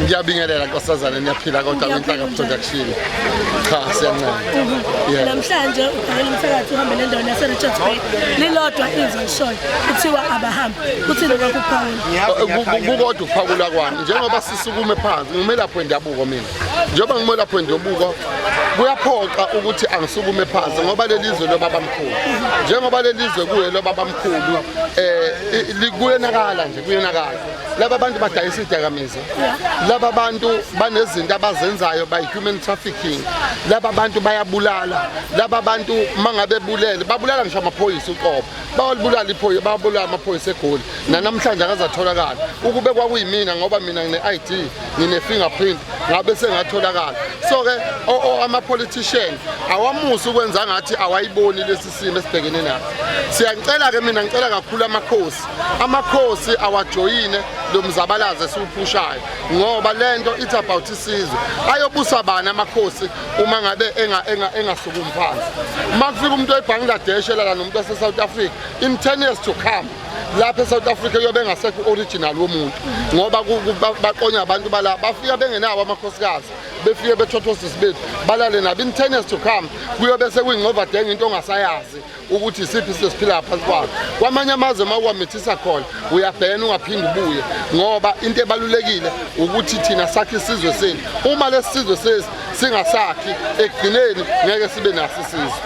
ngiyabingelela nkosazana niyaphila kodwa kwinhlaka production cha siyancela yeah namhlanje ukhangela umthakathi uhambe nendawo yase Richards Bay lilodwa izwe lishoyo kuthiwa abahambi kuthini kwakuphawula kukodwa ukuphawula kwami njengoba sisukume phansi ngimelapho endabuko mina njengoba ngimelapho endabuko kuyaphoqa ukuthi angisukume phansi ngoba lelizwe lobaba mkhulu njengoba lelizwe kuye lobaba mkhulu eh kuyonakala nje kuyonakala laba bantu badayisa idakamizwa laba bantu banezinto abazenzayo by human trafficking laba bantu bayabulala laba bantu mangabe bulele babulala ngisho amaphoyisa uqobo bawalibulala iphoyisa babulala amaphoyisa egoli nanamhlanje akazatholakala ukube kwakuyimina ngoba mina ngine ID ngine fingerprint ngabe sengatholakala so ke ama politician awamusi ukwenza ngathi awayiboni lesi isimo esibhekene naso siyanicela-ke mina ngicela kakhulu amakhosi amakhosi awajoyine lo mzabalazo esiwuphushayo ngoba le nto it's about isizwe ayobusa bani amakhosi uma ngabe engasukumi phansi uma kufika umuntu oyibhangladesh elala nomuntu wasesouth africa in ten years to come lapha eSouth Africa yobe ngasekho original womuntu ngoba baqonya abantu bala bafika bengenawo amakhosikazi befike bethothwa osisi bethu balale nabo in ten years to come kuyobe sekuyingcovadenga into ongasayazi ukuthi isiphi sesiphila phansi kwalo kwamanye amazwe uma uwamithisa khona uyabhena ungaphinde ubuye ngoba into ebalulekile ukuthi thina sakhe isizwe senu uma lesi sizwe sesi singasakhi ekugcineni ngeke sibe naso isizwe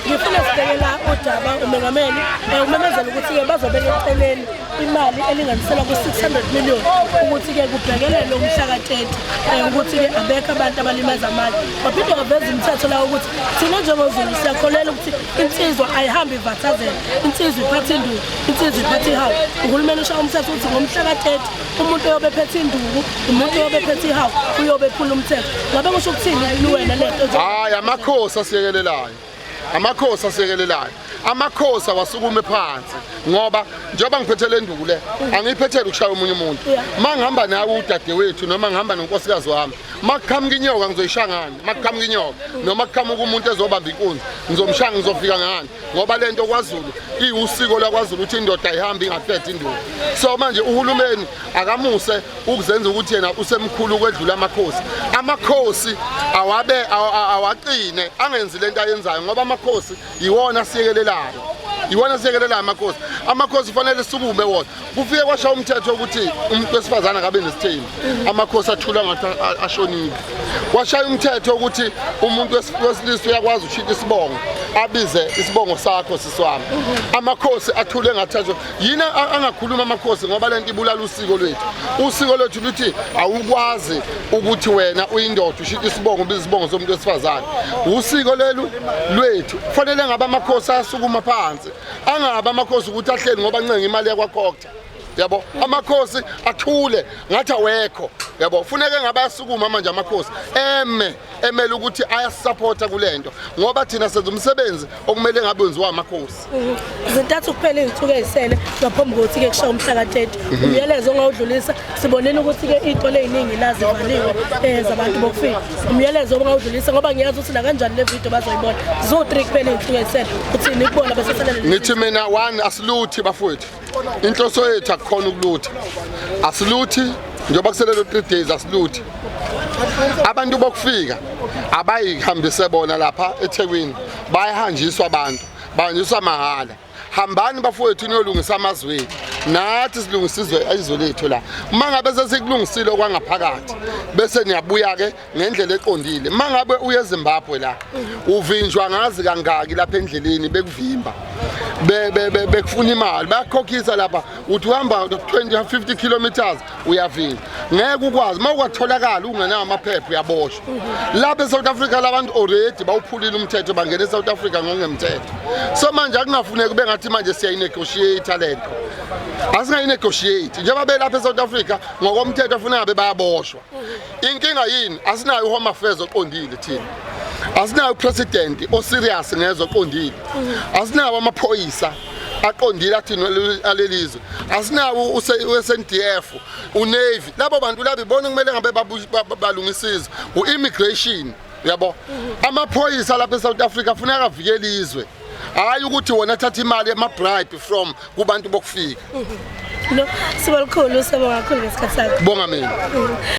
ngifuna sibhekela udaba umengameli umemezela ukuthi-ke bazobeka eceleni imali elinganiselwa ku-600 million ukuthi-ke kubhekelelwe umhla ka-30 um eh, ukuthi-ke abekho abantu abalimaza amali waphinde waveza imithetho lawo ukuthi thina njengozulu siyakholela ukuthi insizwa ayihambe ivathazela insizwa iphathe induku insizwa iphathe ihawu uhulumeni ushawa umthetho ukuthi ngomhla ka-30 umuntu oyobe ephethe induku umuntu oyobe ephethe ihawu uyobe ephula umthetho ngabe kusho ukuthini luwena le nto hayi amakhosi asiyekelelayo amakhosi asekelelayo amakhosi awasukume phansi ngoba njengoba ngiphethe le nduku le angiyiphethele ukushaya omunye umuntu uma ngihamba nawe udadewethu noma ngihamba nonkosikazi wami uma kuqhamuka inyoka ngizoyishaya ngani uma kuqhamuka inyoka noma kuqhamuka umuntu ezobamba inkunzi ngizomshaya ngizofika ngani ngoba le nto kwazulu iwusiko lakwazulu ukuthi indoda ihambe ingaphethe induku so manje uhulumeni akamuse ukuzenza ukuthi yena usemkhulu ukwedlula amakhosi amakhosi awabe awaqine angenzi lento ayenzayo ngoba amakhosi yiwona asiyekelelayo yiwona asiyekelelayo amakhosi amakhosi kufanele sukume wona kufike kwasha umthetho ukuthi umuntu wesifazane akabe nesithembu amakhosi athula ngathi ashonile kwashaya umthetho ukuthi umuntu wesilisa uyakwazi ushita isibongo abize isibongo sakho siswami amakhosi athule ngathi yini angakhuluma amakhosi ngoba le nto ibulala usiko lwethu usiko lwethu luthi awukwazi ukuthi wena uyindoda ushita isibongo ubiza isibongo somuntu wesifazane usiko lelu lwethu kufanele ngabe amakhosi ayasukuma phansi angabe amakhosi ukuthi ahleli ngoba ncenga imali yakwakhokta yabo amakhosi athule ngathi awekho yabo funeke ngabe asukuma manje amakhosi eme emele ukuthi ayasisapotha kule nto ngoba thina senza umsebenzi okumele ngabe wenziwa amakhosi mhm. zintathu kuphela izinsuku ezisele ngaphambi kokuthi-ke kushaya umhla ka-30 mhm. umyalezo ongawudlulisa sibonile ukuthi-ke iy'tolo ey'ningi lazivaliwe um eh, zabantu bokufika umyalezo obungawudlulisa ngoba ngiyazi ukuthi nakanjani le vidiyo bazoyibona ziwu-three kuphela izinsuku ezisele uthini kubona beseselele ngithi mina one asiluthi bafowethu inhloso yethu akukhona ukuluthi asiluthi njengoba kuselelo 3 days asiluthi abantu bokufika abayihambise bona lapha eThekwini bayahanjiswa abantu bahanjiswa mahhala hambani bafowethu niyolungisa amazwi ethu nathi silungisa izwe izwe lethu la uma ngabe sesikulungisile okwangaphakathi bese niyabuya-ke ngendlela eqondile mangabe uye eZimbabwe la uvinjwa ngazi kangaki lapha endleleni bekuvimba bekufuna imali bayakhokhisa lapha uthi uhamba 20 50 kilometers uyavinjwa ngeke ukwazi uma kwatholakala ungenawo amaphepha uyaboshwa lapha eSouth Africa labantu already bawuphulile umthetho bangena eSouth Africa ngongemthetho so manje akunafuneki bengathi manje siyayinegotiate lento asingayinegotiate njengoba belapha eSouth Africa ngokomthetho afuna ngabe bayaboshwa inkinga yini asinayo uhome affairs oqondile thina asinayo upresident oserious ngezwe oqondile asinawo amaphoyisa aqondile athina alelizwe asinawo uSNDF uNavy labo bantu labo ibona kumele ngabe balungisa izwe uimmigration yabo amaphoyisa lapha eSouth Africa afuneka avikele izwe hayi ukuthi wona athatha imali ema bribe from kubantu bokufika lo sibalikhulu sibonga kakhulu ngesikhathi sakho bonga mina